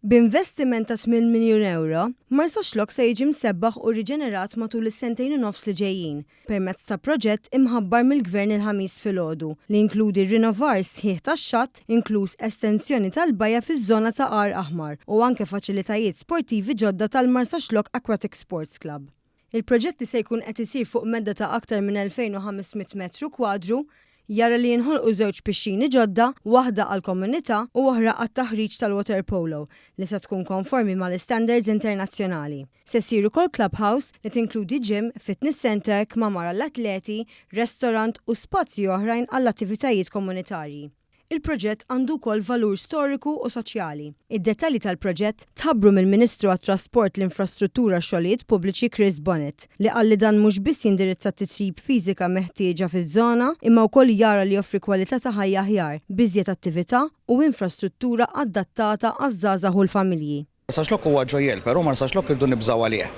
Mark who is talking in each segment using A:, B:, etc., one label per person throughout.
A: B'investiment ta' tmien miljun ewro, Marsaxlokk se jiġi msebbaħ u riġenerat matul is-sentejn u nofs li ġejjin permezz ta' proġett imħabbar mill-Gvern il-Ħamis filgħodu li jinkludi r-rinovar sħiħ tax-xatt, inkluż estensjoni tal-bajja fiż-żona ta' għar aħmar u anke faċilitajiet sportivi ġodda tal-Marsaxlokk Aquatic Sports Club. Il-proġett li se jkun qed isir fuq medda ta' aktar minn 2,500 metru kwadru jara li jinħolqu żewġ pixxini ġodda, waħda għall-komunità u oħra għat-taħriġ tal-waterpolo li se tkun konformi mal-istandards internazzjonali. Se ssir ukoll clubhouse li tinkludi gym, fitness centre, kmamar għall-atleti, restorant u spazji oħrajn għall-attivitajiet komunitarji. Il-proġett għandu wkoll valur storiku u soċjali. Id-dettalji tal-proġett tħabbru mill-Ministru għat-Trasport, l-Infrastruttura u x-Xogħlijiet Pubbliċi Chris Bonett, li qal li dan mhux biss jindirizza t-titjib fiżika meħtieġa fiż-żona, imma wkoll jara li joffri kwalità ta' ħajja aħjar, b'iżjed attività u infrastruttura adattata għaż-żgħażagħ u l-familji. Sax lok huwa ġojjell,
B: però mar sax lok irdu nibżgħu għalih.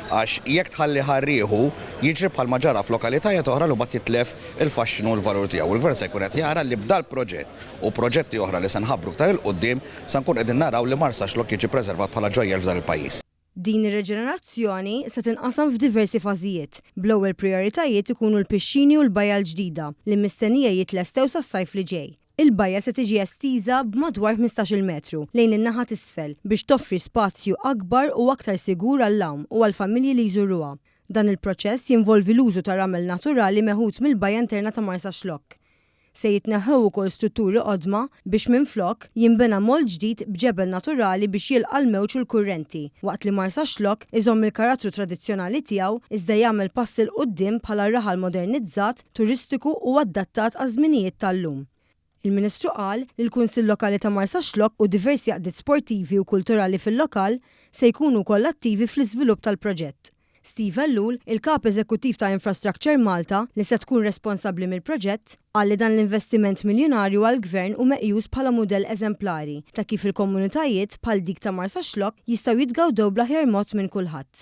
B: Għax jekk tħalli ħa rieħu, jiġri bħalma ġara f'lokalitajiet oħra li mbagħad jitlef il-faxxinu u l-valur tiegħu. U l-Gvern se jkun qed jara li b'dal-proġett u proġetti oħra li se nħabbru iktar 'il quddiem, se nkun qegħdin naraw li Mar Sax Lok jiġi preservat bħala ġojjell f'dan il-pajjiż. Din
A: ir-reġenerazzjoni se tinqasam f'diversi fażijiet, bl-ewwel prijoritajiet ikunu l-pixxini u l-bajja l-ġdida li mistennija jitlestew sas-sajf li ġej. Il-bajja se tiġi estiża b'madwar ħmistax-il metru lejn in-naħa t'isfel biex toffri spazju akbar u aktar sigur għall-għawm u għall-familji li jżuruha. Dan il-proċess jinvolvi l-użu ta' ramel naturali meħud mill-bajja interna ta' Marsaxlokk. Se jitneħħew ukoll strutturi qodma biex minflok, jinbena moll ġdid b'ġebel naturali biex jilqa' l-mewġ u l-kurrenti, waqt li Marsaxlokk iżomm il-karattru tradizzjonali tiegħu iżda jagħmel passi 'l quddiem bħala raħal modernizzat turistiku u adattat għaż-żminijiet tal-lum. Il-Ministru qal li l-Kunsill Lokali ta' Marsaxlokk u diversi għaqdiet sportivi u kulturali fil-lokal se jkunu wkoll attivi fl-iżvilupp tal-proġett. Steve Ellul, il-Kap Eżekuttiv ta' Infrastructure Malta, li se tkun responsabbli mill-proġett, qal li dan l-investiment miljunarju għall-Gvern hu meqjus bħala mudell eżemplari ta' kif il-komunitajiet, bħal dik ta' Marsaxlokk, jistgħu jitgawdew bl-aħjar mod minn kulħadd.